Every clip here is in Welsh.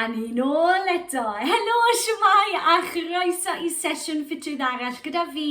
A ni'n ôl eto! Helo, siwmai a chroeso i sesiwn ffitrwydd arall gyda fi,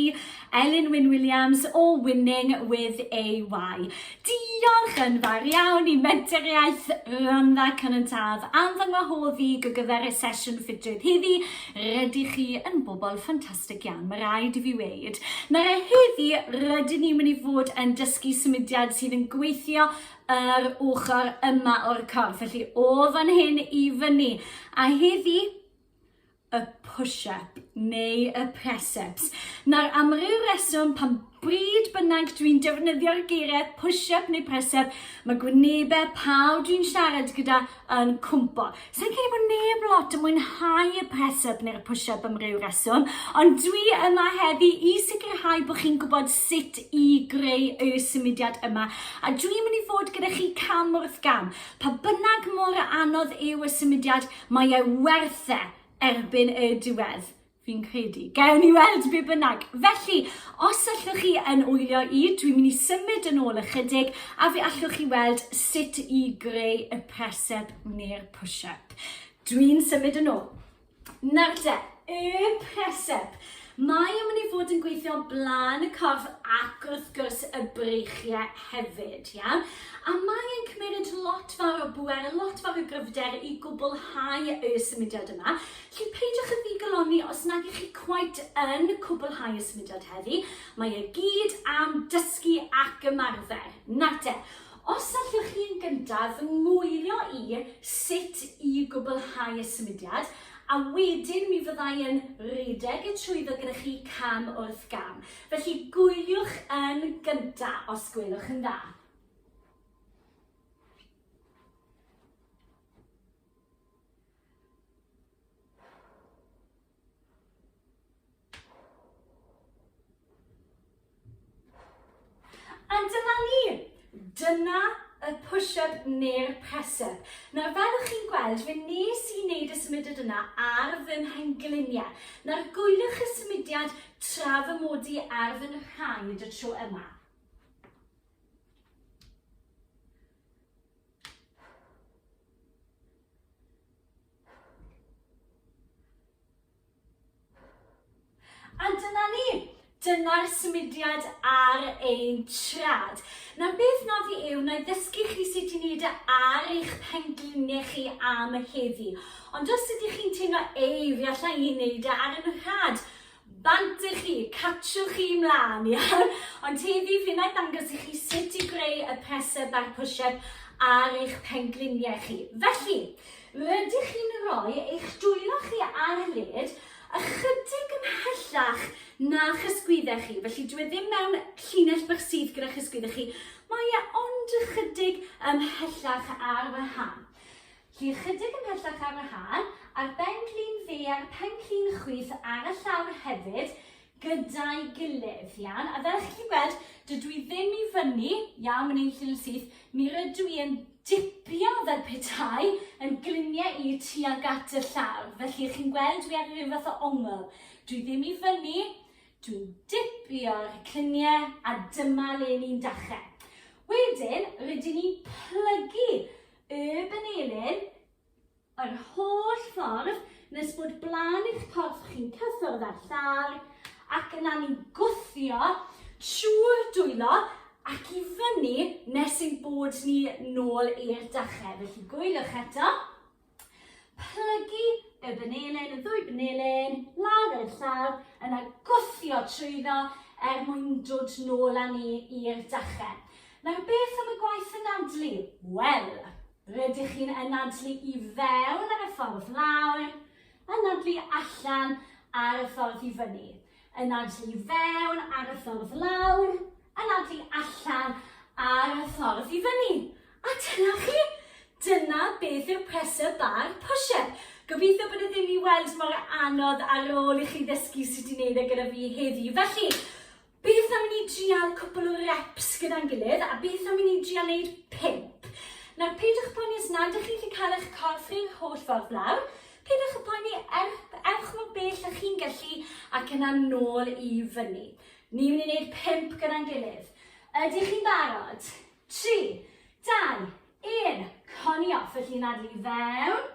Elin Wyn Williams o Winning with AY. Diolch yn fawr iawn i mentoriaeth Rhondda Cynantaf am fy ngwahodd i go gyfer y sesiwn ffitrwydd heddi. Rydych chi yn bobl ffantastig iawn, mae rhaid i fi weid. Nawr a heddi, rydyn ni'n mynd i fod yn dysgu symudiad sydd yn gweithio yr ochr yma o'r corff. Felly o fan hyn i fyny. A heddi, y push-up neu y press-ups. Nawr, am ryw reswm, pan bryd bynnag dwi'n defnyddio'r geiriau push-up neu press-up, mae gwynebau pawb dwi'n siarad gyda yn cwmpo. Sa'n credu bod neb lot yn mwynhau y press up neu'r push up am ryw reswm, ond dwi yma heddi i sicrhau bod chi'n gwybod sut i greu y symudiad yma, a dwi'n mynd i fod gyda chi cam wrth gam. Pa bynnag mor anodd yw y symudiad, mae e werth e erbyn y diwedd. Fi'n credu. Gewn ni weld be bynnag. Felly, os allwch chi yn wylio i, dwi'n mynd i symud yn ôl ychydig a fe allwch chi weld sut i greu y presep neu'r push-up. Dwi'n symud yn ôl. Nawr de, y presep. Mae yn mynd i fod yn gweithio blaen y corff ac wrth gwrs y breichiau hefyd, iawn? A mae yn cymryd lot fawr o bwer, lot fawr o gryfder i gwblhau y symudiad yma. Felly peidiwch â ddigalonni os nag ych chi cweit yn cwblhau y symudiad heddi, mae e gyd am dysgu ac ymarfer, nawr te! Os allwch chi yn gyntaf fy ngwylio i sut i gwblhau y symudiad, a wedyn mi fydda i yn rhedeg y trwyddo gyda chi cam wrth gam. Felly gwyliwch yn gyntaf, os gwelwch yn dda. Dyna y push-up neu'r press-up. Nawr, fel ych chi'n gweld, fe nes i wneud y symudiad yna ar fy mhengliniau. Nawr, gwyliwch y symudiad tra fy mod i ar fy nhraed y tro yma. A dyna ni. Dyna'r symudiad ar ein trad. Nawr beth na fi yw, na i ddysgu chi sut i wneud e ar eich pengliniau chi am heddi. Ond os ydych chi'n teimlo, ei, fi allai i wneud e ar yn rhad, Bant i chi, catchwch chi mlaen, iawn? Ond heddi fi na dangos i chi sut i greu y presser back push-up ar eich pengliniau chi. Felly, rydych chi'n rhoi eich dwylo chi ar y led ychydig yn hellach na chysgwyddau chi. Felly, dwi e ddim mewn llinell bach sydd gyda chysgwyddau chi. Mae e ond ychydig ymhellach ar wahân. Llun ychydig ymhellach ar y hâl, a'r ben-glin dde a'r pen-glin chwith ar y llawr hefyd gyda'i gilydd. Iawn, a fel chi'n gallu gweld, dydw i ddim i fyny, iawn, mae'n ein llun syth, mi rydw i yn dipio fel petai yn gliniau i tuag at y llawr. Felly, chi'n gweld, dwi ar rhyw fath o ongl. Dwi ddim i fyny, dwi'n dipio'r cliniau a dyma le ni'n dachrau. Wedyn, rydyn ni'n plygu Y Benelin, yr holl ffordd nes bod blaen i'ch corff chi'n cyffwrdd â'r llawr ac yna ni'n gwthio trwy'r dwylo ac i fyny nes ein bod ni nôl i'r dachau. Felly gwyliwch eto. Plygu y benelin, y ddwy benelin, lawr i'r llawr, yna gwthio trwyddo er mwyn dod nôl â ni i'r dachau. Nawr beth am y gwaith anadlu? Wel, rydych chi'n anadlu i fewn ar y ffordd lawr, anadlu allan ar y ffordd i fyny, anadlu i fewn ar y ffordd lawr, anadlu allan ar y ffordd i fyny. A dyna chi! Dyna beth yw'r pressure bar push-up. Gobeithio bod e ddim i weld mor anodd ar ôl i chi ddysgu sut i wneud e gyda fi heddi. Felly, Beth am i ni drial cwpl o reps gyda'n gilydd a beth am i ni drial neud pump? Nawr peidiwch poeni os nad ych chi'n gallu cael eich corff rhyw'r holl ffordd lawr, peidiwch â poeni, er, ewch mor bell â chi'n gallu ac yna nôl i fyny. Ni'n mynd i wneud pump gyda'n gilydd. Ydych chi'n barod? Tri, dau, un, coni off, felly yn adlu i fewn,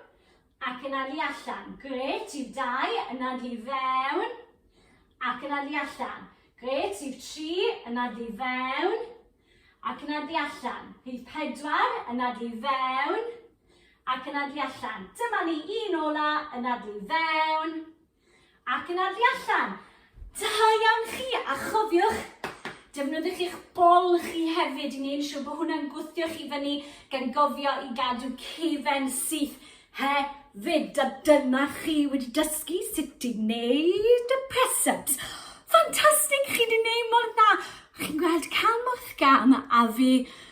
Ac yna li allan. Grêt, rhif dau, yna li fewn. Ac yna li allan. Grêt, rhif tri, yna li fewn. Ac yna li allan. Rhif pedwar, yna li fewn. Ac yna li allan. Dyma ni un ola, yna li fewn. Ac yn arfi allan. Da iawn chi, a chofiwch, defnyddiwch eich bol chi hefyd i wneud siw bod hwnna'n gwthio chi fyny gan gofio i gadw cefen syth hefyd. A dyna chi wedi dysgu sut i wneud y press-ups. Ffantastig, chi wedi wneud mor dda. Chi'n gweld cam wrth gam a fi